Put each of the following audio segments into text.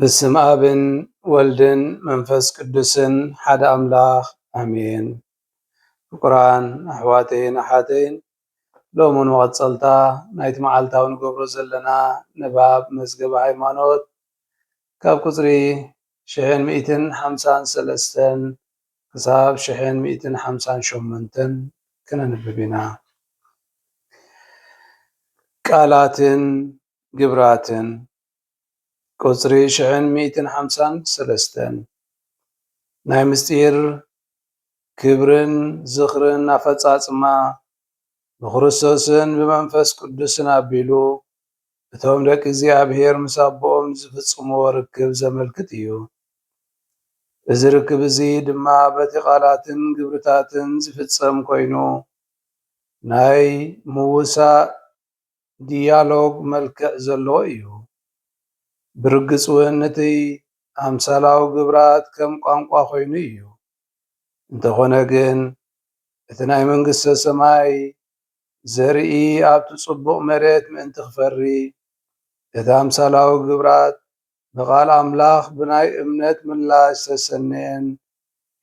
በስም ኣብን ወልድን መንፈስ ቅዱስን ሓደ ኣምላኽ ኣሜን። ፍቁራን ኣሕዋተይን ኣሓተይን ሎሚ ንመቐጸልታ ናይቲ መዓልታዊ ንገብሮ ዘለና ንባብ መዝገበ ሃይማኖት ካብ ቁጽሪ ሽሕን ሚእትን ሓምሳን ሰለስተን ክሳብ ሽሕን ሚእትን ሓምሳን ሸሞንተን ክነንብብ ኢና። ቃላትን ግብራትን ቁጽሪ ሽሕን ሚእትን ሓምሳን ሰለስተን ናይ ምስጢር ክብርን ዝኽርን ኣፈጻጽማ ብክርስቶስን ብመንፈስ ቅዱስን ኣቢሉ እቶም ደቂ እግዚኣብሔር ምስ ኣቦኦም ዝፍጽምዎ ርክብ ዘመልክት እዩ። እዚ ርክብ እዚ ድማ በቲ ቃላትን ግብርታትን ዝፍጸም ኮይኑ ናይ ምውሳእ፣ ድያሎግ መልክዕ ዘለዎ እዩ። ብርግጽ ውን እቲ ኣምሳላዊ ግብራት ከም ቋንቋ ኮይኑ እዩ። እንተኾነ ግን እቲ ናይ መንግስተ ሰማይ ዘርኢ ኣብቲ ጽቡቕ መሬት ምእንቲ ክፈሪ እቲ ኣምሳላዊ ግብራት ንቓል ኣምላኽ ብናይ እምነት ምላሽ ዝተሰነየን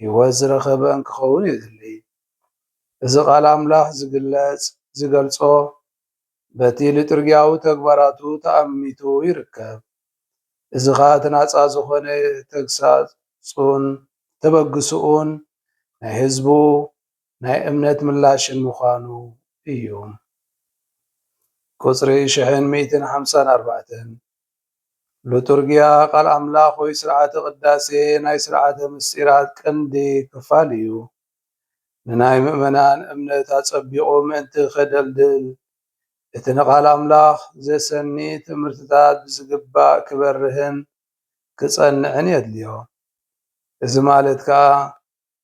ህይወት ዝረኸበን ክኸውን የድሊ። እዚ ቓል ኣምላኽ ዝግለጽ ዝገልጾ በቲ ሊጡርጊያዊ ተግባራቱ ተኣሚቱ ይርከብ። እዚ ኸኣ እቲ ናጻ ዝኾነ ተግሳጹን ተበግሶኡን ናይ ህዝቡ ናይ እምነት ምላሽን ምዃኑ እዩ። ቁጽሪ ሽሕን ሚእትን ሓምሳን ኣርባዕተን ሉቱርጊያ ቃል ኣምላኽ ወይ ሥርዓተ ቅዳሴ ናይ ሥርዓተ ምሥጢራት ቀንዲ ክፋል እዩ። ንናይ ምእመናን እምነት ኣጸቢቑ ምእንቲ ኼደልድል፣ እቲ ንቓል ኣምላኽ ዜሰኒ ትምህርትታት ብዚግባእ ኪበርህን ኪጸንዕን የድልዮ። እዚ ማለት ከኣ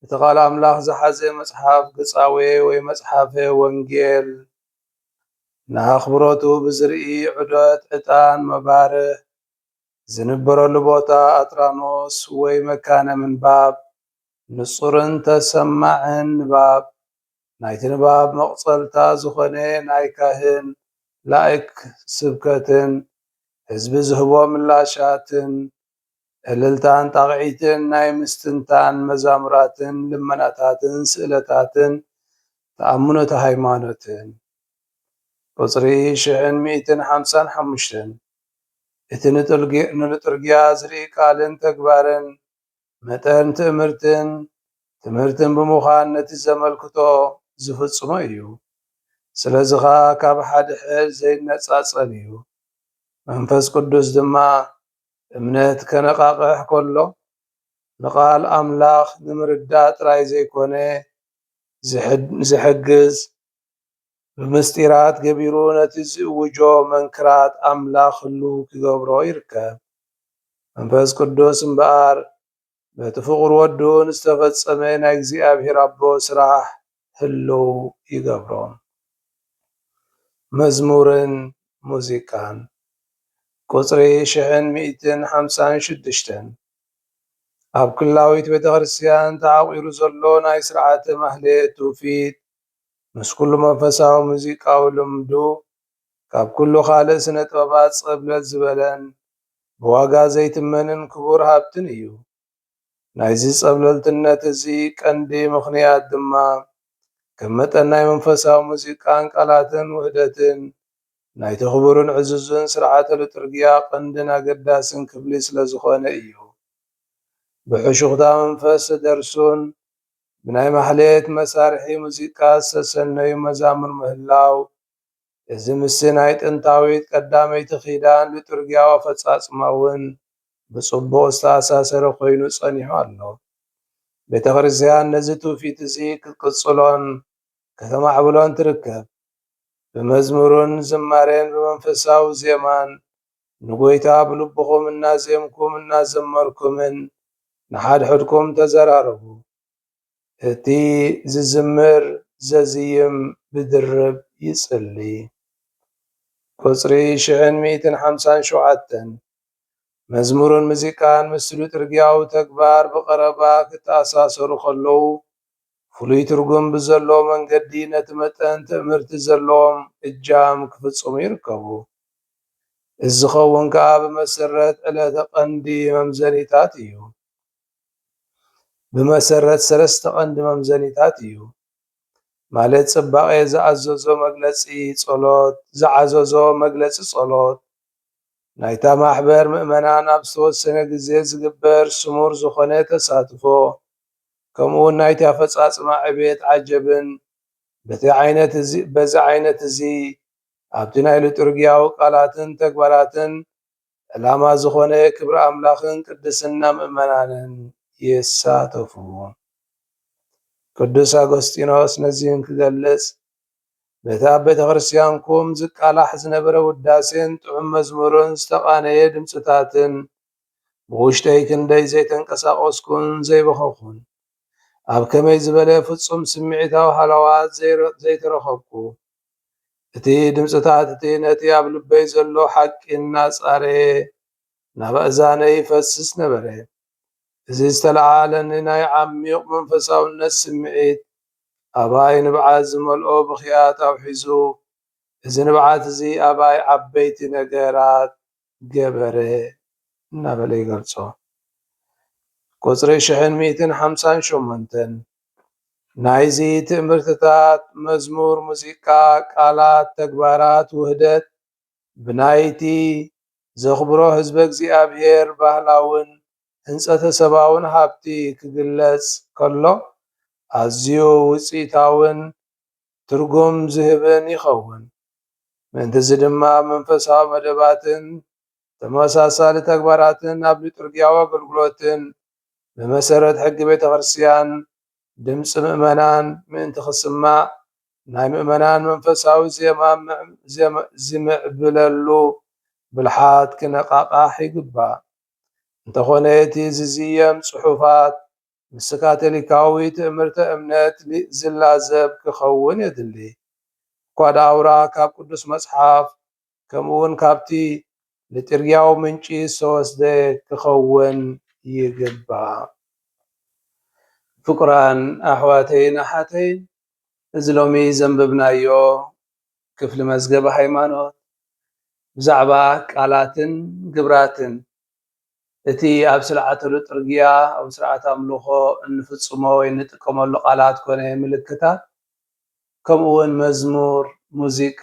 እቲ ቃል ኣምላኽ ዝሓዘ መጽሓፍ ግጻዌ ወይ መጽሓፈ ወንጌል ንኣኽብሮቱ ብዝርኢ ዑደት ዕጣን መባርህ ዝንበረሉ ቦታ ኣትራኖስ ወይ መካነ ምንባብ ንጹርን ተሰማዕን ንባብ ናይቲ ንባብ መቕጸልታ ዝኾነ ናይ ካህን ላእክ ስብከትን ህዝቢ ዝህቦ ምላሻትን እልልታን ጣቕዒትን ናይ ምስትንታን መዛሙራትን ልመናታትን ስእለታትን ተኣምኖተ ሃይማኖትን። ቁጽሪ ሽሕን ሚእትን ሓምሳን ሓሙሽተን እቲ ንልጡርጊያ ዝርኢ ቃልን ተግባርን መጠን ትእምርትን ትምህርትን ብምዃን ነቲ ዘመልክቶ ዝፍጽሞ እዩ። ስለዚ ኸኣ ካብ ሓድሕድ ዘይነጻጸል እዩ። መንፈስ ቅዱስ ድማ እምነት ከነቓቕሕ ከሎ ንቓል ኣምላኽ ንምርዳእ ጥራይ ዘይኮነ ዚሕግዝ፣ ብምስጢራት ገቢሩ ነቲ ዚእውጆ መንክራት ኣምላኽ ህሉው ኪገብሮ ይርከብ። መንፈስ ቅዱስ እምበኣር በቲ ፍቑር ወዱን ዝተፈጸመ ናይ እግዚኣብሔር ኣቦ ስራሕ ህልው ይገብሮ። መዝሙርን ሙዚቃን ቁጽሪ ሽሕን ሚእትን ሓምሳን ሽዱሽተን ኣብ ኩላዊት ቤተክርስትያን ተዓቊሩ ዘሎ ናይ ሥርዓተ ማኅሌት ትውፊት ምስ ኩሉ መንፈሳዊ ሙዚቃዊ ልምዱ ካብ ኩሉ ካልእ ስነ ጥበባት ጸብለል ዝበለን ብዋጋ ዘይትመንን ክቡር ሃብትን እዩ። ናይዚ ጸብለልትነት እዚ ቀንዲ ምኽንያት ድማ ከም መጠን ናይ መንፈሳዊ ሙዚቃን ቃላትን ውህደትን ናይቲ ክቡርን ዕዙዝን ስርዓተ ልጡርግያ ቀንድን ኣገዳስን ክፍሊ ስለ ዝኾነ እዩ። ብሕሹኽታ መንፈስ ዝተደርሱን ብናይ ማሕሌት መሳርሒ ሙዚቃ ዝተሰነዩ መዛሙር ምህላው እዚ ምስቲ ናይ ጥንታዊት ቀዳመይቲ ኪዳን ሊጡርጊያዊ ኣፈጻጽማ እውን ብጽቡቕ ዝተኣሳሰረ ኮይኑ ጸኒሑ ኣሎ። ቤተ ክርስቲያን ነዚ ትውፊት እዚ ክትቅጽሎን ከተማዕብሎን ትርከብ። ብመዝሙርን ዝማሬን ብመንፈሳዊ ዜማን ንጐይታ ብልብኹም እናዜምኩም እናዘመርኩምን ንሓድሕድኩም ተዘራረቡ። እቲ ዝዝምር ዘዝይም ብድርብ ይጽሊ። ቁጽሪ ሽሕን ሚእትን ሓምሳን ሸውዓተን፣ መዝሙርን ሙዚቃን ምስ ልጡርጊያዊ ተግባር ብቐረባ ክተኣሳሰሩ ከለዉ፣ ፍሉይ ትርጉም ብዘለዎ መንገዲ ነቲ መጠን ትእምርቲ ዘለዎም እጃም ክፍጽሙ ይርከቡ። እዚ ዝኸውን ከኣ ብመሰረት ዕለተ ቀንዲ መምዘኒታት እዩ። ብመሰረት ሰለስተ ቀንዲ መምዘኒታት እዩ። ማለት ጽባቄ ዝኣዘዞ መግለጺ ጸሎት ዝዓዘዞ መግለጺ ጸሎት ናይታ ማሕበር ምእመናን ኣብ ዝተወሰነ ግዜ ዝግበር ስሙር ዝኾነ ተሳትፎ ከምኡውን ናይቲ ኣፈጻጽማ ዕብየት ዓጀብን በቲ ዓይነት እዚ በዚ ዓይነት እዚ ኣብቲ ናይ ሉጥርግያዊ ቃላትን ተግባራትን ዕላማ ዝኾነ ክብሪ ኣምላኽን ቅድስና ምእመናንን ይሳተፉ። ቅዱስ ኣጎስጢኖስ ነዚ እንክገልጽ በቲ ኣብ ቤተ ክርስቲያንኩም ዝቃላሕ ዝነበረ ውዳሴን ጥዑም መዝሙርን ዝተቓነየ ድምፅታትን ብውሽጠይ ክንደይ ዘይተንቀሳቐስኩን ዘይበኸኹን ኣብ ከመይ ዝበለ ፍጹም ስምዒታዊ ሃለዋት ዘይተረኸብኩ እቲ ድምጽታት እቲ ነቲ ኣብ ልበይ ዘሎ ሓቂ እናጻረየ ናብ ኣእዛነይ ይፈስስ ነበረ። እዚ ዝተለዓዓለኒ ናይ ዓሚዩቕ መንፈሳውነት ስምዒት፣ ኣባይ ንብዓት ዝመልኦ ብኽያት ኣውሒዙ፣ እዚ ንብዓት እዚ ኣባይ ዓበይቲ ነገራት ገበረ እናበለ ይገልጾ። ቁጽሪ ሽሕን ሚእትን ሓምሳን ሸሞንተን ናይዚ ትእምርትታት፣ መዝሙር፣ ሙዚቃ፣ ቃላት፣ ተግባራት፣ ውህደት ብናይቲ ዘኽብሮ ህዝበ እግዚኣብሔር ባህላውን ህንጸተሰባውን ሃብቲ ክግለጽ ከሎ ኣዝዩ ውጽኢታውን ትርጉም ዝህብን ይኸውን። ምእንት'ዚ ድማ ኣብ መንፈሳዊ መደባትን ተመሳሳሊ ተግባራትን ኣብ ሊጡርጊያዊ ኣገልግሎትን ብመሰረት ሕጊ ቤተ ክርስቲያን ድምጺ ምእመናን ምእንቲ ክስማዕ ናይ ምእመናን መንፈሳዊ ዜማ ዚምዕብለሉ ብልሓት ኪነቓቓሕ ይግባእ። እንተኾነ እቲ ዚዝየም ጽሑፋት፣ ምስ ካቶሊካዊ ትእምርተ እምነት ዚላዘብ ኪኸውን የድሊ። እኳ ደኣውራ ካብ ቅዱስ መጽሓፍ ከምኡውን ካብቲ ሊጢርጊያዊ ምንጪ ዝተወስደ ኪኸውን ይግባእ። ፍቁራን ኣሕዋተይን ኣሓተይን፣ እዚ ሎሚ ዘንብብናዮ ክፍሊ መዝገበ ሃይማኖት፣ ብዛዕባ ቃላትን ግብራትን እቲ ኣብ ስለዓተሉ ጥርግያ፣ ኣብ ስርዓተ ኣምልኾ እንፍጽሞ ወይ እንጥቀመሉ ቃላት ኮነ ምልክታት፣ ከምኡውን መዝሙር፣ ሙዚቃ፣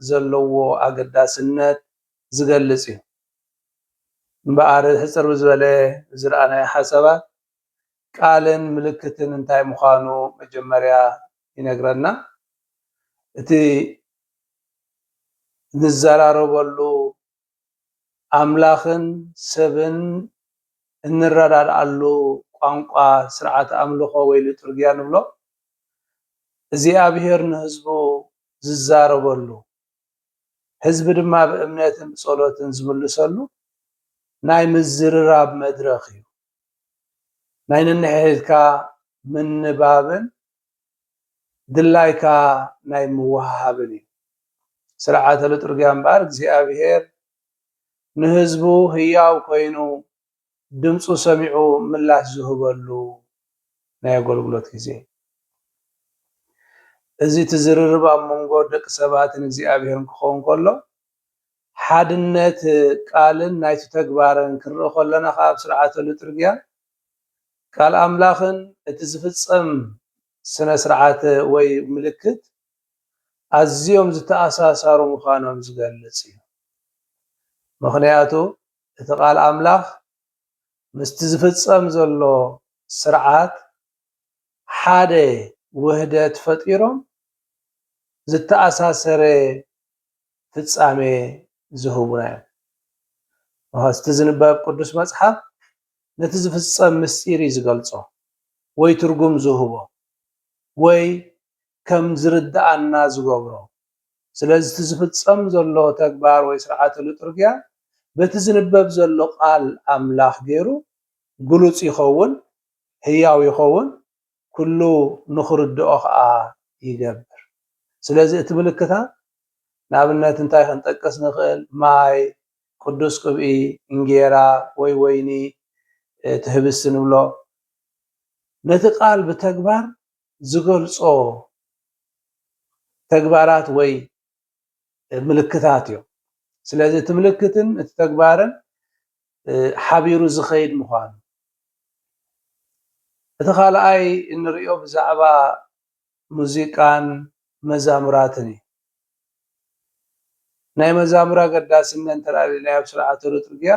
ዘለዎ ኣገዳስነት ዝገልጽ እዩ። እምበኣር ሕጽር ብዝበለ ዝረኣናዮ ሓሳባት ቃልን ምልክትን እንታይ ምዃኑ መጀመርያ ይነግረና። እቲ ንዘራረበሉ ኣምላኽን ሰብን እንረዳድኣሉ ቋንቋ ስርዓተ ኣምልኾ ወይ ሊጡርጊያ ንብሎ እግዚኣብሔር ንህዝቡ ዝዛረበሉ ህዝቢ ድማ ብእምነትን ብጸሎትን ዝምልሰሉ ናይ ምዝርራብ መድረኽ እዩ። ናይ ነንሕድሕድካ ምንባብን ድላይካ ናይ ምውሃሃብን እዩ። ስርዓተ ልጡርግያ እምበኣር እግዚኣብሔር ንህዝቡ ህያው ኮይኑ ድምፁ ሰሚዑ ምላሽ ዝህበሉ ናይ ኣገልግሎት ጊዜ እዩ። እዚ እቲ ዝርርብ ኣብ መንጎ ደቂ ሰባትን እግዚኣብሔርን ክኸውን ከሎ ሓድነት ቃልን ናይቲ ተግባርን ክንርኢ ከሎና ከኣ ኣብ ስርዓተ ልጡርግያ ቃል ኣምላኽን እቲ ዝፍጸም ስነ-ስርዓት ወይ ምልክት ኣዝዮም ዝተኣሳሳሩ ምዃኖም ዝገልጽ እዩ። ምኽንያቱ እቲ ቃል ኣምላኽ ምስቲ ዝፍጸም ዘሎ ስርዓት ሓደ ውህደት ፈጢሮም ዝተኣሳሰረ ፍጻሜ ዝህቡና እዮም። እቲ ዝንበብ ቅዱስ መጽሓፍ ነቲ ዝፍጸም ምስጢር እዩ ዝገልጾ ወይ ትርጉም ዝህቦ ወይ ከም ዝርድኣና ዝገብሮ። ስለዚ እቲ ዝፍጸም ዘሎ ተግባር ወይ ስርዓተ ልጡርግያ በቲ ዝንበብ ዘሎ ቃል ኣምላኽ ገይሩ ግሉጽ ይኸውን፣ ህያው ይኸውን፣ ኩሉ ንኽርድኦ ከኣ ይገብር። ስለዚ እቲ ምልክታት ንኣብነት እንታይ ክንጠቅስ ንኽእል፣ ማይ፣ ቅዱስ ቅብኢ፣ እንጌራ ወይ ወይኒ፣ እቲ ህብስቲ ንብሎ፣ ነቲ ቃል ብተግባር ዝገልጾ ተግባራት ወይ ምልክታት እዮም። ስለዚ እቲ ምልክትን እቲ ተግባርን ሓቢሩ ዝኸይድ ምዃኑ እቲ ካልኣይ እንሪኦ ብዛዕባ ሙዚቃን መዛሙራትን እዩ። ናይ መዛሙር ኣገዳስነት እንተልዕልና ኣብ ስርዓተ ሉጥርግያ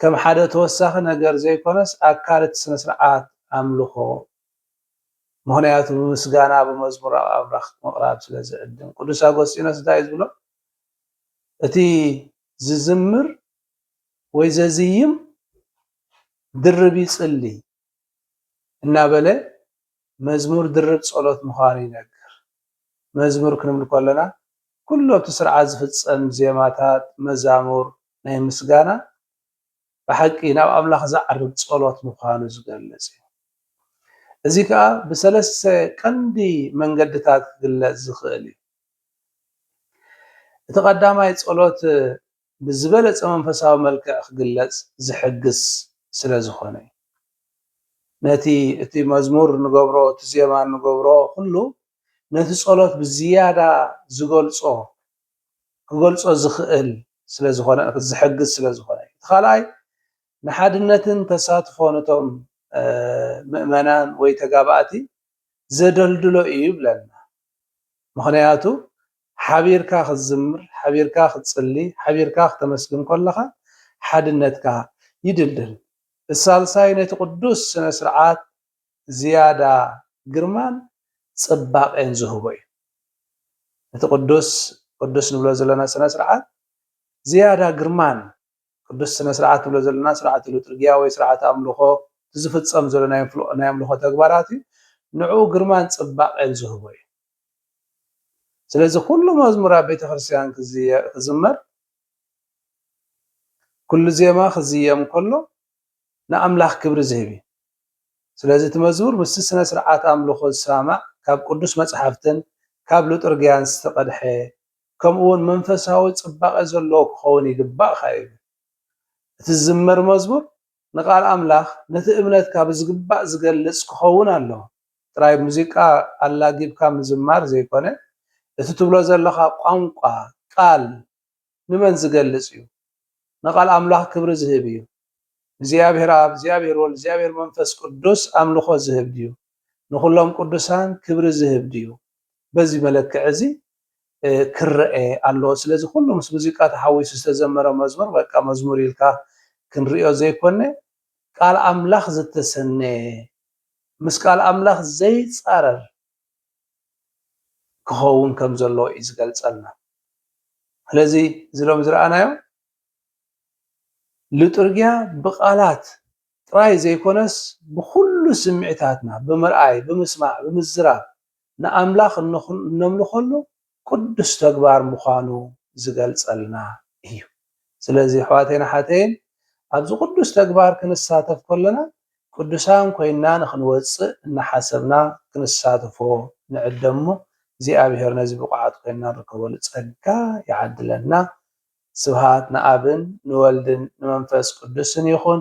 ከም ሓደ ተወሳኺ ነገር ዘይኮነስ ኣካል እቲ ስነ-ስርዓት ኣምልኾ ምኽንያቱ ብምስጋና ብመዝሙር ኣብ ኣምላኽ ምቕራብ ስለ ዝዕድም ቅዱስ ኣጎስጢኖስ እንታይ እዩ ዝብሎ እቲ ዝዝምር ወይ ዘዝይም ድርብ ይጽሊ እናበለ መዝሙር ድርብ ጸሎት ምዃኑ ይነግር መዝሙር ክንብል ከለና ኩሉ ኣብቲ ስርዓት ዝፍጸም ዜማታት መዛሙር ናይ ምስጋና ብሓቂ ናብ ኣምላኽ ዝዓርግ ጸሎት ምዃኑ ዝገልጽ እዩ። እዚ ከኣ ብሰለስተ ቀንዲ መንገድታት ክግለጽ ዝኽእል እዩ። እቲ ቀዳማይ ጸሎት ብዝበለጸ መንፈሳዊ መልክዕ ክግለጽ ዝሕግዝ ስለ ዝኾነ እዩ። ነቲ እቲ መዝሙር ንገብሮ እቲ ዜማ ንገብሮ ኩሉ ነቲ ጸሎት ብዝያዳ ዝገልጾ ክገልጾ ዝኽእል ስለ ዝኾነ ዝሕግዝ ስለ ዝኾነ እዩ። እቲ ካልኣይ ንሓድነትን ተሳትፎ ነቶም ምእመናን ወይ ተጋባእቲ ዘደልድሎ እዩ ይብለና። ምኽንያቱ ሓቢርካ ክትዝምር፣ ሓቢርካ ክትጽሊ፣ ሓቢርካ ክተመስግን ከለኻ ሓድነትካ ይድልድል። እቲ ሳልሳይ ነቲ ቅዱስ ስነ ስርዓት ዝያዳ ግርማን ጽባቄን ዝህቦ እዩ። እቲ ቅዱስ ቅዱስ ንብሎ ዘለና ስነ ስርዓት ዝያዳ ግርማን ቅዱስ ስነ ስርዓት ንብሎ ዘለና ስርዓተ ሉጥርጊያ ወይ ስርዓተ ኣምልኾ እቲ ዝፍጸም ዘሎ ናይ ኣምልኾ ተግባራት እዩ ንዕኡ ግርማን ጽባቄን ዝህቦ እዩ። ስለዚ ኩሉ መዝሙር ኣብ ቤተ ክርስቲያን ክዝመር ኩሉ ዜማ ክዝየም ከሎ ንኣምላኽ ክብሪ ዝህብ እዩ። ስለዚ እቲ መዝሙር ምስቲ ስነ-ስርዓት ኣምልኾ ዝሰማማዕ ካብ ቅዱስ መጽሓፍትን ካብ ሉጥርግያን ዝተቐድሐ ከምኡውን መንፈሳዊ ጽባቐ ዘለዎ ክኸውን ይግባእ ኸኣ ይብል። እቲ ዝዝመር መዝሙር ንቃል ኣምላኽ ነቲ እምነትካ ብዝግባእ ዝገልጽ ክኸውን ኣለዎ። ጥራይ ሙዚቃ ኣላጊብካ ምዝማር ዘይኮነ እቲ ትብሎ ዘለኻ ቋንቋ ቃል ንመን ዝገልጽ እዩ? ንቃል ኣምላኽ ክብሪ ዝህብ እዩ። ንእግዚኣብሔር ኣብ፣ እግዚኣብሔር ወልድ፣ እግዚኣብሔር መንፈስ ቅዱስ ኣምልኾ ዝህብ ድዩ? ንኹሎም ቅዱሳን ክብሪ ዝህብ ድዩ? በዚ መለክዒ እዚ ክረኤ ኣለዎ። ስለዚ ኩሉ ምስ ሙዚቃ ተሓዊሱ ዝተዘመረ መዝሙር በቃ መዝሙር ኢልካ ክንርእዮ ዘይኮነ ቃል ኣምላኽ ዝተሰነየ ምስ ቃል ኣምላኽ ዘይጻረር ክኸውን ከም ዘለዎ እዩ ዝገልጸልና። ስለዚ እዚ ሎሚ ዝረኣናዮ ልጡርጊያ ብቓላት ጥራይ ዘይኮነስ ብኹሉ ስምዒታትና ብምርኣይ፣ ብምስማዕ፣ ብምዝራብ ንኣምላኽ እነምልኸሉ ቅዱስ ተግባር ምዃኑ ዝገልጸልና እዩ። ስለዚ ኣሕዋተይን ኣሓተይን ኣብዚ ቅዱስ ተግባር ክንሳተፍ ከሎና ቅዱሳን ኮይንና ንኽንወጽእ እናሓሰብና ክንሳተፎ ንዕደም እሞ እግዚኣብሔር ነዚ ብቑዓት ኮይንና ንርከበሉ ጸጋ ይዓድለና። ስብሃት ንኣብን ንወልድን ንመንፈስ ቅዱስን ይኹን